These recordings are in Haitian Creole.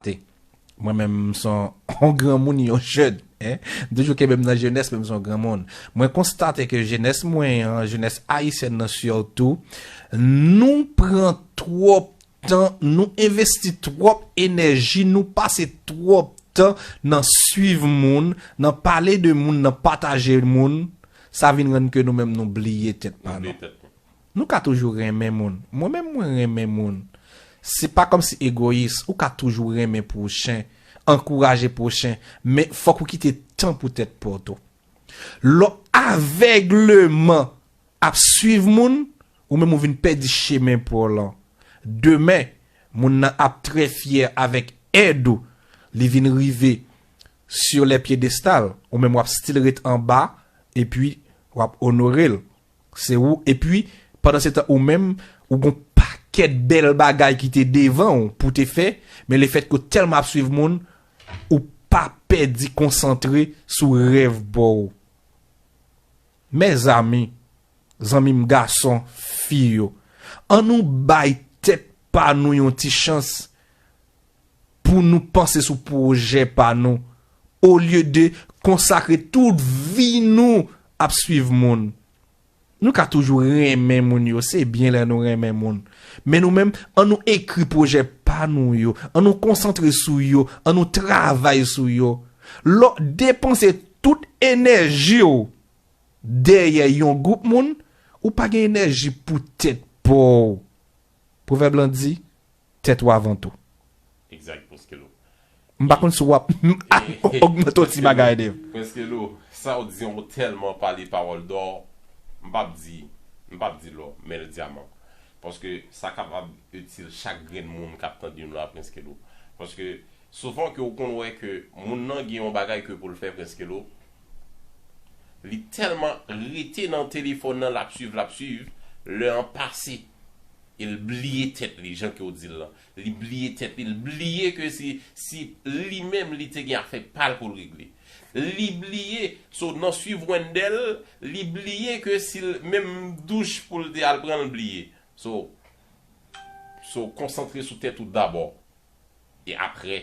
T, Mwen menm m s on granmoun, yon jèn. Hein? M toujou kenbe m nan jenès men m s on granmoun. Mwen konstate ke jenès mwen an, jenès ayisyèn nan surtou, nou pran twòp tan, nou envesti twòp enèji, nou pase twòp tan nan swiv moun, nan pale de moun, nan pataje moun, sa vin rann ke nou menm nou bliye tèt pa nou. Nou ka toujou renmen moun. Mwen menm mwen renmen moun. Se pa kòmsi egoyis, ou ka toujou renmen pwochen, ankouraje pwochen, men fòk ou kite tan pou tèt pa w tou. Lè w avègleman ap swiv moun, ou menm ou vin pèdi chemen pa w lan. Demen, moun nan ap trè fyè avèk èd ou, li vin rive sur les piedestals, ou menm w ap still ret anba epi w ap onore l. Se ou epi pandan se tan ou menm ou gon pakèt bèl bagay ki te devan ou pou te fè men le fèt ke ou tèlman ap swiv moun ou pa pèdi konsantre sou rèv pa ou. Mèzami, zanmi m gason, fi yo, an nou bay tèt pa nou yon ti chans. pou nou panse sou pwojè pa nou olye de konsakre tout vi nou ap swiv moun. Nou ka toujou renmen moun yo, se byen lè nou renmen moun. Men nou menm, an nou ekri pwojè pa nou yo, an nou konsantre sou yo, an nou travay sou yo. Lè w depanse tout enèji w dèyè yon gwoup moun, ou pa gen enèji pou tèt pa w. Pwovèb lan di, tèt ou avan tou. Exact Prinskelo. M pa konn si wap ogmante yon ti bagay Dave. Prinskelo, sa ou di an ou tèlman pale pawòl dò, m pap di, m pap di lò, men l dyaman. Paske sa kapab itil chak grenn moun kap tande nou la Prinskelo. Paske souvan ke ou konn wè ke moun nan gen yon bagay ke pou l fè Prinskelo, li tèlman rete nan telefòn nan lap swiv, lap swiv, lè an pase. El bliye tèt li jan ke w di l lan. Li bliye tèt li. L bliye ke si, si li menm li te gen afè pa l pou l regle. Li bliye, so nan swiv Wendell, li bliye ke si l, menm douch pou l te al pran l bliye. So, so konsantre sou tèt ou dabò. E aprè.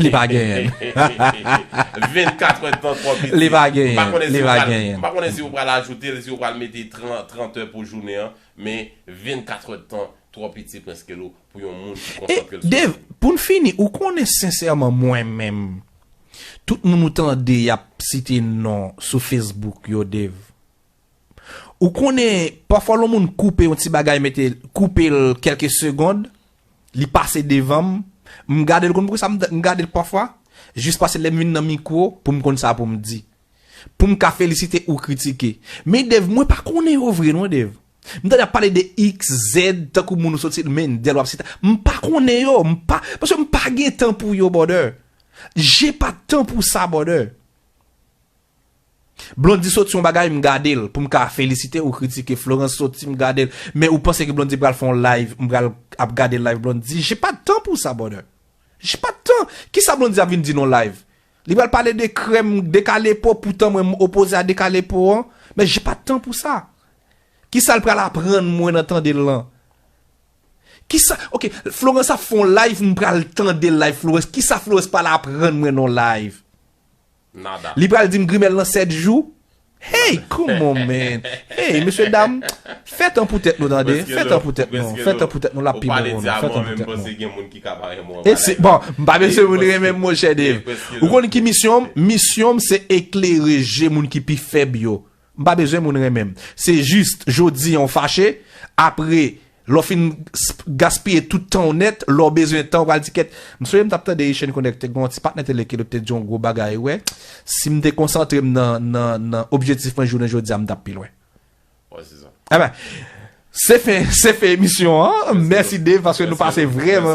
Li pa genyen. 24 è tan twò piti. Li pa genyen. M pa konnen si ou pral ajoute l, si ou pral mete 30 è pou jounen an, men 24 è tan twò piti prèske lou pou yon moun ki konsantre l sou. Dave, pou n fini, ou konnen sensèman mwen menm, tout moun ou tande y ap site non sou Facebook yo Dave, ou konnen pafwa lon moun koupe yon ti bagay mete koupe l kèlke segond, Li pase devan m, m gade l konn poukisa m gade l pafwa? Jis pase lè m vin nan mikwo pou m konn sa pou m di. Pou m ka felisite ou kritike. Men Dave mwen pa konnen yo vre non Dave. M tande y ap pale de X, Z tankou moun ou sot site Mendel w ap site. M pa konnen yo, m pa, paske m pa gen tan pou yo brother. J'ai pas tan pou sa brother. Blondy soti yon bagay m gadel poum ka felisite ou kritike Florence soti m gadel men ou panse ke Blondy pral fè yon live m pral ap gade live Blondy je pas de temps pour ça brother je pas de temps kisa Blondy ap vin di nan live li pral pale de krèm de kale po poutan mwen m opoze a de kale po an men je pas de temps pour ça kisal pral aprann mwen nan tandel lan kisa ok Florence ap fè yon live m pral tande live Florence kisa Florence pral aprann mwen nan live. Nada. Li pral dim grimèl nan 7 jou? Hey come on man hey mesye dam fè tan pou tèt nou tande fè tan pou tèt nou fè tan pou tèt nou lap pi bon pou nou fè tan pou tèt nou e se bon m pa mesye moun renmen m monchè Dave ou konn ki misyon m misyon m se eklere je moun ki pi fèb yo M pa bezwen moun renmen m. Se jis, jodi an w fache, apre, lè w fin gaspiye tout tan w nèt, lè w bezwen tan w pral di kèt. M sonje m t ap tande Echèn Konèk te gen yon ti patnè tele ki li te di yon gwo bagay, wè, si m te konsantre m nan, nan, nan objektif mwen jounen jodi a m t ap pi lwen. Wè se sa. Enben, se fen, se fen emisyon an. Mèsi Dave paske nou pase vrèman, vrèman.